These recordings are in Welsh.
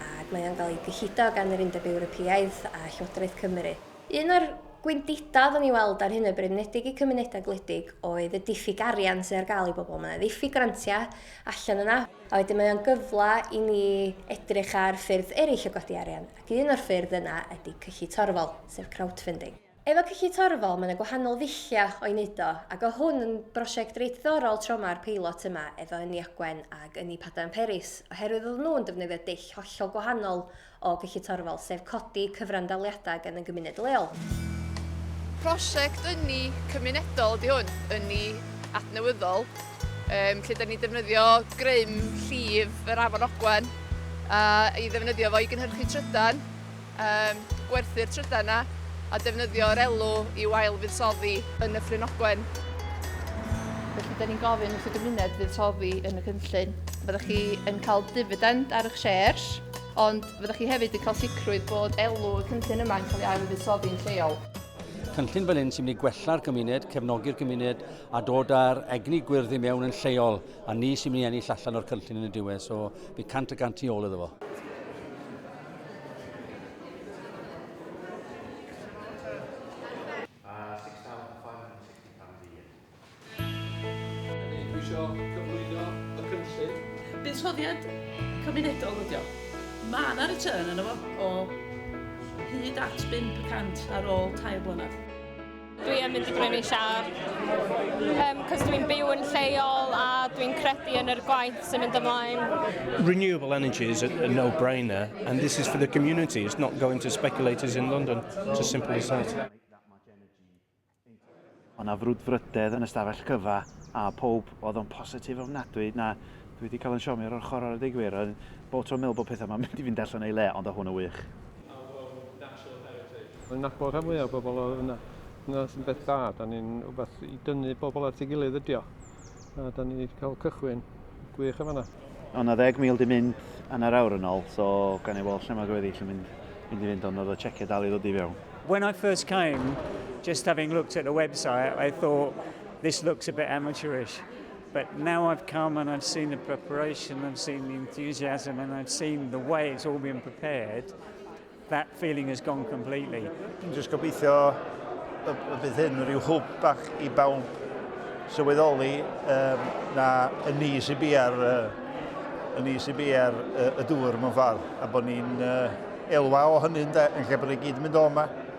ac mae o'n cael ei gyllido gan yr Undeb Ewropeaidd a Llywodraeth Cymru. Un o'r gwendidau oeddwn i weld ar hyn o bryd, yn enwedig i cymunedau gwledig, oedd y diffyg arian sydd ar gael i bobl. Mae yna ddiffyg grantiau allan yna, a wedyn mae o'n gyfle i ni edrych ar ffyrdd eraill o godi arian, ac un o'r ffyrdd yna ydy cyllu torfol, sef crowdfunding. Efo Cyllid Torfol mae 'na gwahanol ddullia o i neud o ac o hwn yn brosiect reit ddiddorol tro ma'r peilot yma efo Ynni Ogwen ag Ynni Padarn Peris oherwydd oedden nhw'n defnyddio dull hollol gwahanol o Gyllid Torfol sef codi cyfrandaliadau gan y gymuned leol. Prosiect ynni cymunedol ydi hwn, ynni adnewyddol yym lle 'da ni'n defnyddio grym llif yr afon Ogwen a i ddefnyddio fo i gynhyrchu trydan. Yym, gwerthu'r trydan 'na a defnyddio'r elw i'w ail-fuddsoddi yn y Ffrin Ogwen. Felly, da ni'n gofyn wrth y gymuned fuddsoddi yn y cynllun. Fyddwch chi yn cael difidend ar eich shares, ond fyddwch chi hefyd yn cael sicrwydd bod elw y cynllun yma yn cael ei ail-fuddsoddi'n lleol. Cynllun fel hyn sy'n mynd i gwella'r gymuned, cefnogi'r gymuned a dod â'r egni gwyrdd i mewn yn lleol a ni sy'n mynd i ennill allan o'r cynllun yn y diwedd. So, fi cant y gant tu ôl iddo fo. buddsoddiad cymunedol ydi o. Mae yna return yno fo o hyd at 5 y cant ar ôl tair blynedd. Dwi yn mynd i brynu siar, um, cos dwi'n byw yn lleol a dwi'n credu yn yr gwaith sy'n mynd ymlaen. Renewable energy is a, a no-brainer, and this is for the community, it's not going to speculators in London, it's as simple as that. Ond na frwdfrydedd yn ystafell cyfa, a pob oedd o'n positif ofnadwy, na, dwi wedi cael yn siomio o'r ochr o'r ddigwyr, bod tro'n meddwl bod pethau yma'n mynd i fynd allan ei le, ond o hwn yn wych. Mae'n nabod rhan fwya o bobl o yna. Dyna sy'n beth da, da ni'n wbath i dynnu bobl at ei gilydd ydi o. A da ni wedi cael cychwyn gwych yn fanna. O' 'na ddeg mil 'di mynd anner awr yn ol, so gawn ni weld lle ma'r gweddill yn mynd mynd i fynd ond o'dd y cheque dal i ddod i fewn. When I first came, just having looked at the website, I thought this looks a bit amateurish. But now I've come and I've seen the preparation, I've seen the enthusiasm and I've seen the way it's all been prepared, that feeling has gone completely. Dwi'n just gobeithio y bydd hyn rhyw hwb bach i bawb sylweddoli um, na y ni sy'n bi ar, uh, y ni sy'n bi ar uh, y dŵr mewn ffordd, a bod ni'n uh, elwa o hynny yn lle bod ni gyd yn mynd o yma.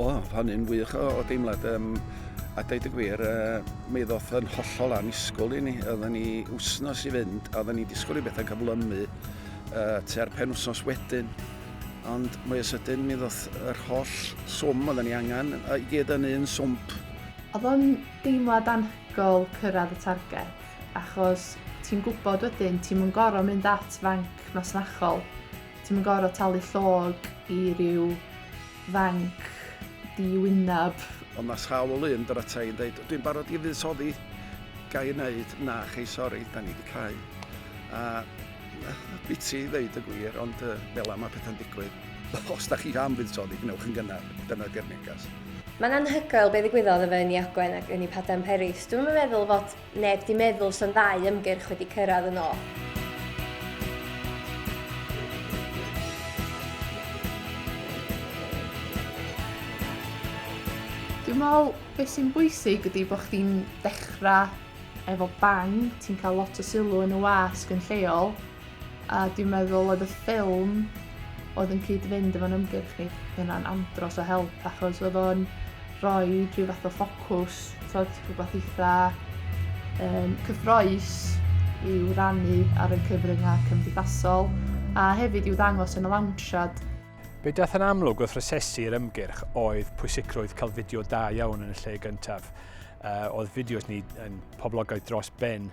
O, hynny'n wych o, o deimlad. Um, a dweud y gwir, uh, mi ddoth yn hollol anusgwl i ni. Oedden ni wsnos i fynd, a oedden ni disgwyl i bethau cyflymu uh, tua'r pen wsnos wedyn. Ond mwy o sydyn mi ddoth yr holl swm oedden ni angen i gyd yn un swmp. Oedd o'n deimlad anhygoel cyrraedd y targed, achos ti'n gwybod wedyn ti'm yn gorfod mynd at fanc masnachol, ti'm yn gorfod talu llog i ryw fanc di-wyneb. Ond mae sawl un dod ata i yn dweud, dwi'n barod i fuddsoddi, ga i wneud? Na, chei sori, da ni wedi cau. A Biti ddeud y gwir, ond uh, fel am a pethau'n digwydd. Os da chi am fuddsoddi, gwnewch yn gynnar. Dyna di'r negas. Mae'n anhygoel be ddigwyddodd efo Ynni Ogwen ac Ynni Padarn Peris. Dwi'n yn meddwl fod neb di meddwl sy'n ddau ymgyrch wedi cyrraedd yn ôl. Dwi'n meddwl beth sy'n bwysig ydy bod chdi'n dechrau Efo Bang, ti'n cael lot o sylw yn y wasg yn lleol, a dwi'n meddwl oedd y ffilm oedd yn cyd-fynd efo'n ymgyrch ni, yna'n andros o help, achos oedd o'n rhoi rhyw fath o ffocws, tod, rhywbeth eitha um, cyffroes i'w rannu ar y cyfryngau cymdeithasol, a hefyd i'w ddangos yn y lawnsiad. Be dath yn amlwg wrth rosesu'r ymgyrch oedd pwysigrwydd cael fideo da iawn yn y lle gyntaf. uh, oedd fideos ni yn poblogaidd dros ben.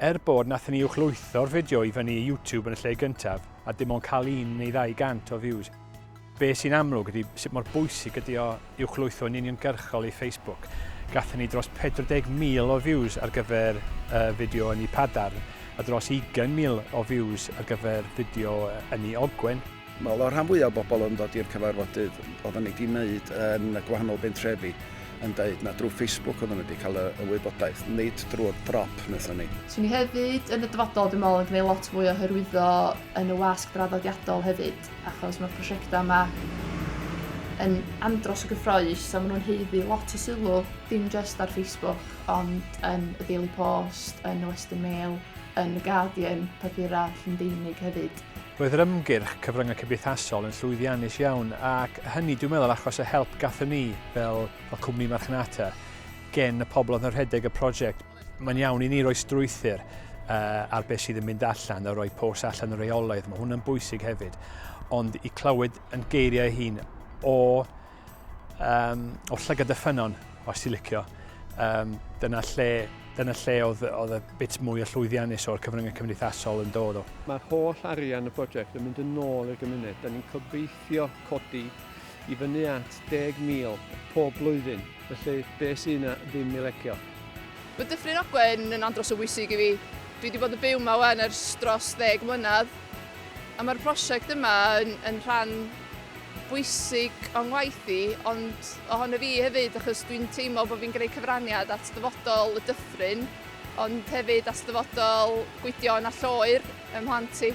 Er bod nath ni uwchlwytho'r fideo i fyny i YouTube yn y lle gyntaf, a dim ond cael un neu ddau gant o views. Be sy'n amlwg ydy sut mor bwysig ydy o uwchlwytho yn uniongyrchol i Facebook. Gathen ni dros 40,000 o views ar gyfer uh, fideo yn ei padarn, a dros 20,000 o views ar gyfer fideo yn ei ogwen. Wel, oedd y rhan fwyaf o bobl oedd yn dod i'r cyfarfodydd, oedden ni wedi wneud yn y gwahanol bentrefi, yn dweud na drwy Facebook oedden nhw wedi cael y, y wybodaeth, nid drwy'r drop wnaethon ni. Swn i hefyd yn y dyfodol, dwi'n meddwl, yn gwneud lot mwy o hyrwyddo yn y wasg draddodiadol hefyd, achos mae'r prosiectau yma yn andros o gyffroes a maen nhw'n heiddi lot o sylw, dim jyst ar Facebook, ond yn y Daily Post, yn y Western Mail, yn y Guardian, papurau Llundeinig hefyd. Roedd yr ymgyrch cyfryngau cymdeithasol yn llwyddiannus iawn ac hynny dwi'n meddwl achos y help gathon ni fel, fel cwmni marchnata gen y pobl oedd yn rhedeg y prosiect. Mae'n iawn i ni roi strwythyr uh, ar beth sydd yn mynd allan a roi pos allan y reolaidd. Mae hwnna'n bwysig hefyd. Ond i clywed yn geiriau hun o Um, o llygad y ffynon, os ti'n licio. Um, dyna lle, dyna lle oedd, oedd y bit mwy o llwyddiannus o'r cyfryngau cymdeithasol yn dod o. Mae'r holl arian y prosiect yn mynd yn ôl i'r gymuned. Da ni'n cobeithio codi i fyny at 10,000 pob blwyddyn, felly be sy'n yna ddim i legio. Mae Dyffryn Ogwen yn andros o bwysig i fi. Dwi wedi bod yn byw yma wan ers dros ddeg mlynedd, a mae'r prosiect yma yn, yn rhan bwysig o'n ngwaith i, ond ohono fi hefyd, achos dwi'n teimlo bod fi'n gwneud cyfraniad at ddyfodol y dyffryn, ond hefyd at ddyfodol Gwydion a Lloer ym mhlant i.